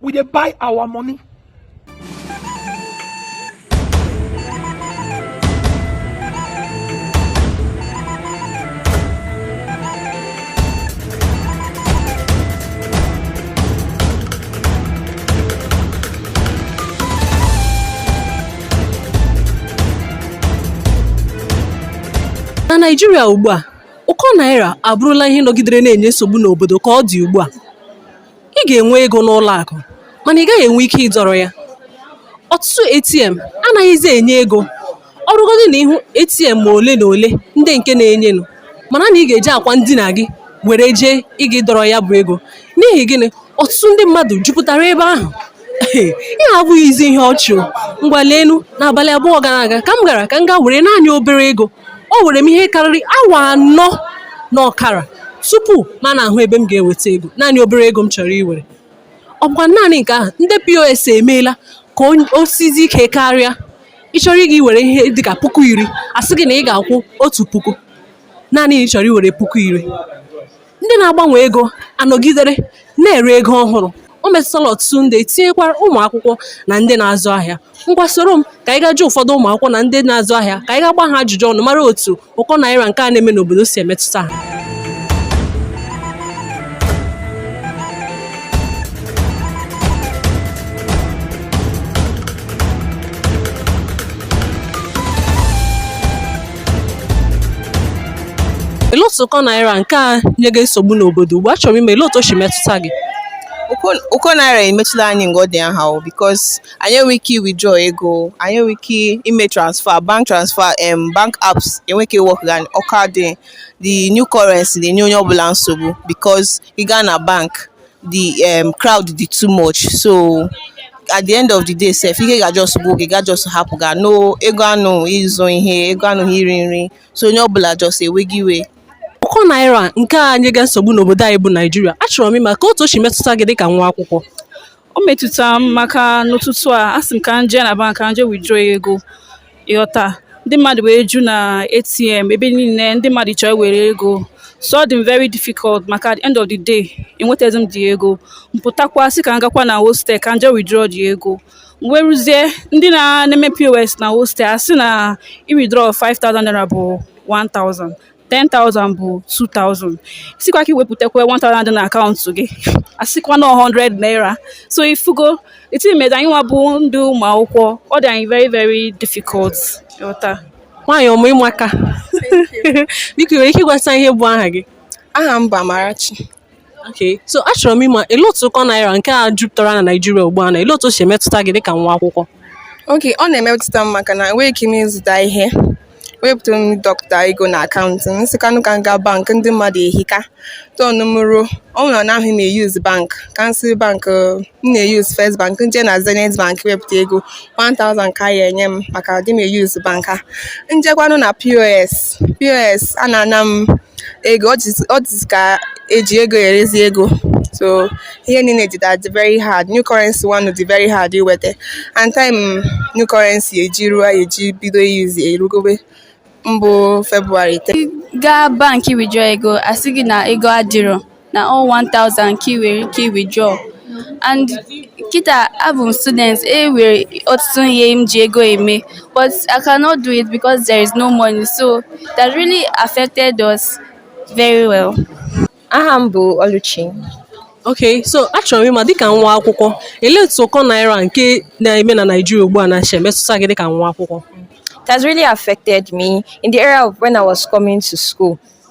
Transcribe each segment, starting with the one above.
we dey buy our money. na naijiria ugbu a ụkọ naira abụrụla ihe nọgidere na-enye nsogbu n'obodo ka ọ dị ugbu a ị ga-enwe ego n'ụlọ akụ mana ị gaghị enwe ike ịdọrọ ya ọtụtụ ATM anaghịzi enye ego ọ bụrụgodị na ị hụ ATM ma ole na ole ndị nke na-enyenụ mara na ị ga-eji akwa ndina gị were jee ịga ịdọrọ ya bụ ego n'ihi gịnị ọtụtụ ndị mmadụ jupụtara ebe ahụ Ihe a abụghịzi ihe ọchị o. Ngwa leenụ, n'abalị abụọ gara aga ka m gara ka m gaa were naanị obere ego. O were m ihe karịrị awa anọ na ọkara tupu m ana-ahụ ebe m ga-eweta ego. Naanị obere ego m chọrọ iwere. Ọ bụkwa naanị nke ahụ, ndị POS emeela ka o sizi ike karịa. Ị chọrọ ịga iwere ihe dị ka puku iri, a sị gị na ị ga-akwụ otu puku. Naanị na ị chọrọ iwere puku iri. Ndị na-agbanwe ego anọgidere na-ere ego ọhụrụ. O metụtala ọtụtụ ndị, tinyekwara ụmụ akwụkwọ na ndị na-azụ ahịa. Ngwa soro m ka anyị gaa jụọ ụfọdụ ụmụ akwụkwọ na ndị na-azụ ahịa ka anyị gaa gbaa ha ajụjụ ọnụ mara otu ụkọ naira nke a na-eme n'obodo si emetụta ha. Elee otu ụkọ naira nke a nyega nsogbu n'obodo ugbu a achọrọ m ịma elee otu o si metụta gị? Ụkọ naira emetụla anyị nga ọ dị aha o because anyị enweghị ike withdraw ego, anyị enweghị ike ime transfer, bank transfer, um bank apps enweghị ike work ga ọ ka dị the new currency na-enye onye ọbụla nsogbu because ị gaa na bank the um, crowd dị too much so at the end of the day sef ike ga just gwụ gị ị ga just hapụ ga no ego anọghị ịzụ ihe ego anọghị iri nri so onye ọbụla just ewega iwe Ụkọ naira nke a nyega nsogbu n'obodo anyị bụ Naijiria. Achọrọ m ịma ka otu o si metụta gị dịka nwa akwụkwọ. o metụtara m maka n'ụtụtụ a asị m ka m jee na bank ka m jee withdraw ego ị ghọta ndị mmadụ wee ju na ATM ebe niile ndị mmadụ chọ iwere ego so ọ dị m very difficult maka at the end of the day enwetaghị m the ego m pụtakwa sị ka m gakwa na hostel ka m jee withdraw the ego m wee ruzie ndị na-eme pos na hostel a sị na i withdraw 5000 naira bụ 1000 10,000 bụ 2,000 ị sịkwa ka i wepụtakwa 1,000 dị na akaụntụ gị a sịkwa na 100 naira so ị fụgo etimeda anyị nwa bụ ndị ụmụ akwụkwọ ọ dị anyị very very difficult ị ghọta nwaanyị ọma ị maka biko ị nwere ike ịgwatụ ihe bụ aha gị aha m bụ Amarachi Okay, so achọrọ m ịma ele otu ụkọ naira nke a jupụtara na Naịjirịa ugbu a na ele otu o si emetụta gị dịka nwa akwụkwọ okay ọ na-emetụta m maka na enweghị ike m ịzụta ihe wepụta m dọpụta ego na akaụntụ m sịkwanụ ka m gaa bank ndị mmadụ ehika turn m ruo ọ bụrụ na ahụ m eyuz bank ka m sị bank m na-eyuz first bank m je na zenith bank wepụta ego 1000 ka a ya-enye m maka adị m eyuz bank a m jekwanụ na pos pos a na-ana m ego ọ dịzi ka eji ego erezi ego so ihe niile dị that very hard new currency ọ na-adị very hard iweta and time new currency eji ruo ya eji bido yuzi erugobe mbụ february 10 gaa banki withdraw ego asị gị na ego adịrọ na ọ 1000 ka ị nwere ike withdraw and kita abụ m student e nwere ọtụtụ ihe m ji ego eme but I cannot do it because there is no money so it has really affected us very well. aha m bụ Oluchi okay so achọrọ m ịma dịka nwa akwụkwọ ele otu ụkọ naira nke na-eme na Naịjirịa ugbu a na shi emetụta gị dịka nwa akwụkwọ It has really affected me in the area of when I was coming to school.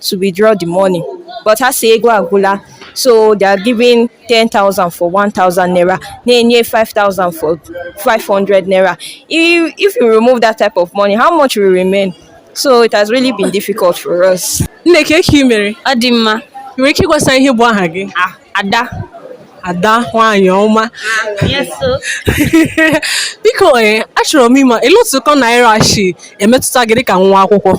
to withdraw the money. But ha sị ego agwụla so they are giving 10,000 for 1,000 naira na-enye 5,000 for 500 naira. If, if you remove that type of money, how much will remain? So it has really been difficult for us. Nne kee ka i mere Ọ dị mma. i nwere ike ịgwasa ihe bụ aha gị Ah, Ada. ada nwaanyị ọma Yes, so. biko ee achọrọ m ịma ele otu ụkọ naira shi emetụta gị dịka nwa akwụkwọ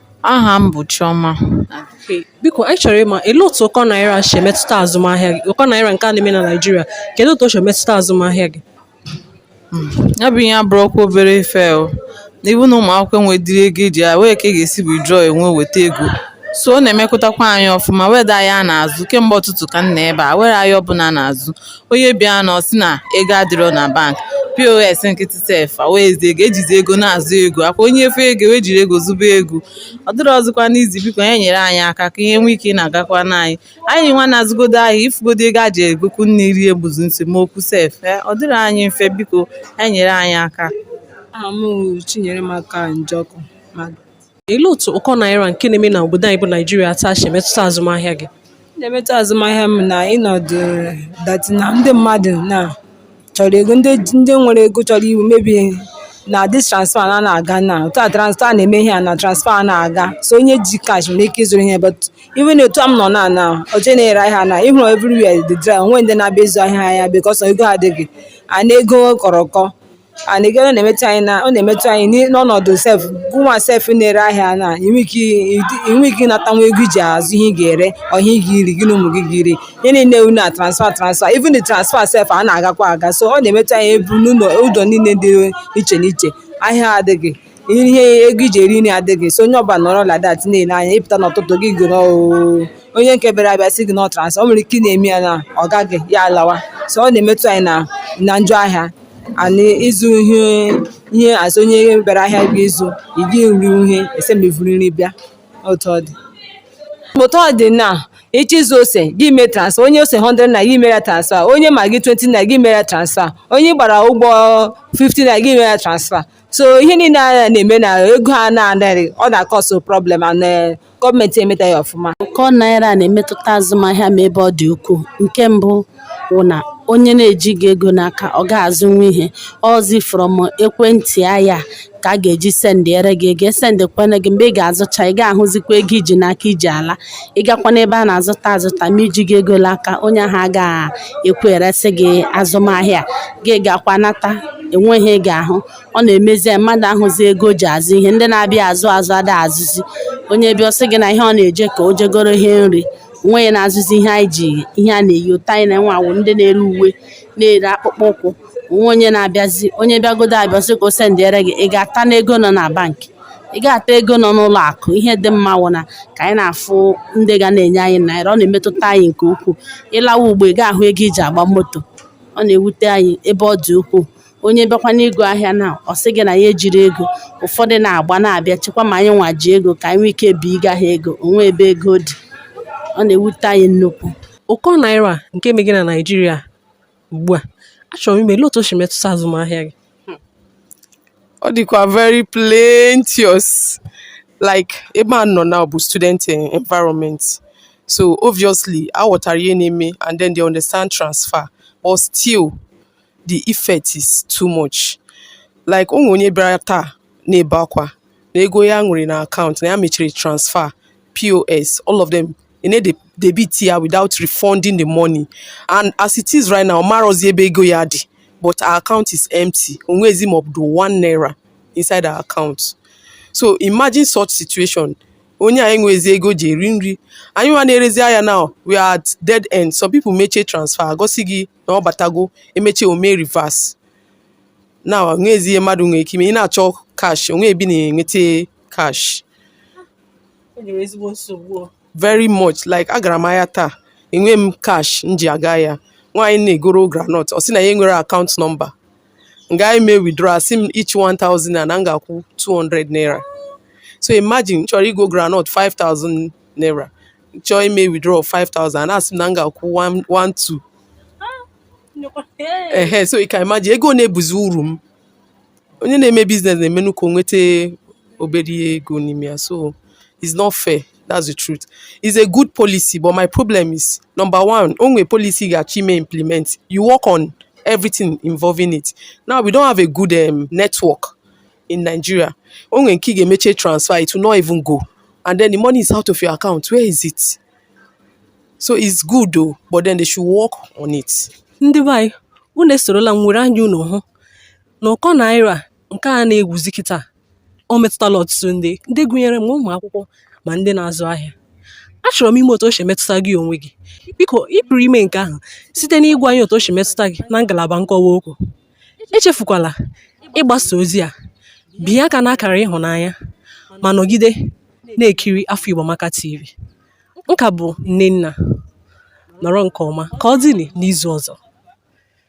Aha m bụ Chioma. Biko anyị chọrọ ịma ele otu ụkọ naira si emetụta azụmahịa gị ụkọ naira nke a na-eme na Naịjirịa kedu otu o si emetụta azụmahịa gị hmm, ya bụ ihe abụrọkwa obere ife o n'ihi na ụmụ akwụkwọ enwedịrọ ego eji ya nwee ka a ga-esi withdraw enwe weta ego so ọ na-emekụtakwa anyị ọfụma o nwedịrọ ahịa a na-azụ kemgbe ụtụtụ ka m nọ ebe a o nwerọ ahịa ọbụla a na-azụ Onye bịanụ ọ sị na ego adịrọ na bank, POS nkịtị sef enwezi ego, ejizi ego na-azụ ego, ọ kwa onye fụ ego wee jiri ego zụba ego. Ọ dịrọzịkwanụ easy biko ha nyere anyị aka ka ihe nwee ike ị na-agakwara anyị. Anyị nwa na-azụgodo ahịa ịfụgodo ego e ji egokwu nni erie bụzi esemokwu sef. Eh, Ọ dịrọ anyị mfe biko ha nyere anyị aka. Aha m wụ Chinyeremaka Njọkụ. Ma Elee otu ụkọ naira nke na-eme na obodo anyị bụ Naijiria taa shi emetụta azụmahịa gị? Ọ na-emetụ azụmahịa m in order that na ndị mmadụ na chọrọ ego ndị ji- ndị nwere ego chọrọ ịzụ maybe na this transfer na na-aga na otu a transfer a na-eme ihe a na transfer a na-aga so onye ji cash nwere ike ịzụrụ ihe but even otu a m nọ na na oche na-ere ahịa na ịhụrụ everywhere dị dry o nweghị ndị na-abịa ịzụ ahịa ahịa because ego adịghị and ego kọrọ ụkọ and again ọ na-emetụ anyị na ọ na-emetụ anyị n'i- n'ọnọdụ sef gụnwa sef na-ere ahịa na inwe ike i- i- inwe ike ịnata nwa ego iji azụ ihe ị ga-ere ọ ihe ị ga-eri gị na ụmụ gị ga-eri ihe niile wụ na transfa transfa even the transfer sef a na-agakwa aga so ọ na-emetụ anyị ebu n'ụlọ ụzọ niile dị iche n'iche ahịa adịghị ihe ego iji eri nri adịghị so onye ọbụla nọrọ like that na-ele anya ịpụta n'ụtụtụ gị guru oo onye nke bịara abịa sị gị na ọ transfa o nwere ike ị na-eme ya na ọ gaghị ya alawa so ọ na-emetụ anyị na na njọ ahịa anyị ịzụ ihe ihe azụ onye bịara ahịa gị ịzụ ị gị nri ihe ese ma iburu nri bịa otu ọ dị otu ọ dị na ịchọ ịzụ ose gị mee transfa onye ose 100 naira gị mere ya transfa onye maggi 20 naira gị mere ya transfa onye gbara ụgbọ 50 naira gị mere ya transfa so ihe niile a na-eme na ego a na-adịghị ọ na-akọsụ problem and gọọmenti emetaghị ọfụma ụkọ naira na-emetụta azụmahịa ma ebe ọ dị ukwuu nke mbụ wụ na onye na-ejighị ego n'aka ọ gaghị azụnwu ihe ọ zi from ekwentị ya ka a ga-eji sendịere gị ego esendịkwere gị mgbe ị ga-azụcha ị ga-ahụzikwa ego iji n'aka iji ala ị gakwa n'ebe a na-azụta azụta ma ijighị ego n'aka onye ahụ agaghị ekwe eresị gị azụmahịa gị gakwa nata enweghị ị ga-ahụ ọ na-emezi mmadụ ahụzi ego o ji azụ ihe ndị na-abịa azụ azụ ada azụzi onye bịa ọ sị gị na ihe ọ na-eje ka o je goro ihe nri onweghị na-azụzi ihe anyị ji ihe a na-emetụta anyị nwa wụ ndị na-ere uwe na-ere akpụkpọ ụkwụ onwe onye na-abịazi onye bịagodo abịa ọ sị ka o sendịere gị ị ga-atanụ ego nọ na bankị ị ga-ata ego nọ n'ụlọ akụ ihe dị mma wụ na ka anyị na-afụ ndị ga na-enye anyị naira ọ na-emetụta anyị nke ukwuu ịlawa ugbo ị ga-ahụ ego iji agba moto ọ na-ewute anyị ebe ọ dị ukwuu onye bịakwa n'ịgo ahịa na ọ sị gị na ya ejighị ego ụfọdụ na-agba na-abịa chekwa ma anyị nwa ji ego ka anyị nwee ike binye ha ego onwe ebe ego dị ọ na-ewute anyị nnukwu ụkọ naira nke megị na naijiria ugbu a achọrọ m ịma otu o si metụta azụmahịa gị hmm. ọ dịkwa very plenteous like ebe a nọ now bụ student environment so obviously ha ghọtara ihe na-eme and then they understand transfer but still the effect is too much like onwe onye bịara taa na-ebe akwa na ego ya nwere na akaụntụ na ya mechara transfer pos all of them e debit ya without refunding the money and as it is right now ọ marọzi ebe ego ya dị but her account is empty onwezi ma ọ bụ one naira inside her account so imagine such situation onye a enwezi ego ji eri nri anyị nwa na-erezi ahịa now we are at dead end some people mechaa transfer gosi gị na ọ batago emechaa o mee reverse now onwezi ihe mmadụ nwere ike ime ị na-achọ cash onwe ebe ị na-enweta cash very much like agara m ahịa taa enwe m cash m ji aga ya nwaanyị na-egoro groundnut ọ sị na ya enwere account number m gaa ime withdraw asị m each 1000 na m ga-akwụ 200 naira so imagine chọrọ igo groundnut 5000 naira chọọ ime withdraw 5000 na asị m na m ga-akwụ 1,2 ehe so you can imagine ego na-ebuzi uru m onye na-eme business na-emenụ ka o nweta obere ego n'ime ya so it's not fair that's the truth it's a good policy but my problem is number one o nwee policy ị ga-achọ ime implement you work on everything involving it now we don't have a good um, network in Nigeria o nwere nke ị ga-emeche transfer it will not even go and then the money is out of your account where is it so it's good though but then they should work on it ndị be anyị unu esorola m were anya unu hụ Na ụkọ naira nke a na-ekwuzi kịta, o metụtala ọtụtụ ndị, ndị gụnyere ma ụmụ akwụkwọ ma ndị na-azụ ahịa. Achọrọ m ịma otu o si metụta gị onwe gị. Biko, ị pụrụ ime nke ahụ site n'ịgwa anyị otu o si metụta gị na ngalaba nkọwa okwu. Echefukwala ịgbasa ozi a. Binye aka n'akara ịhụnanya ma nọgide na-ekiri Afọ Igbo Amaka TV. Nke a bụ Nnenna. Nọrọ nke ọma. Ka ọ dịnị n'izu ọzọ.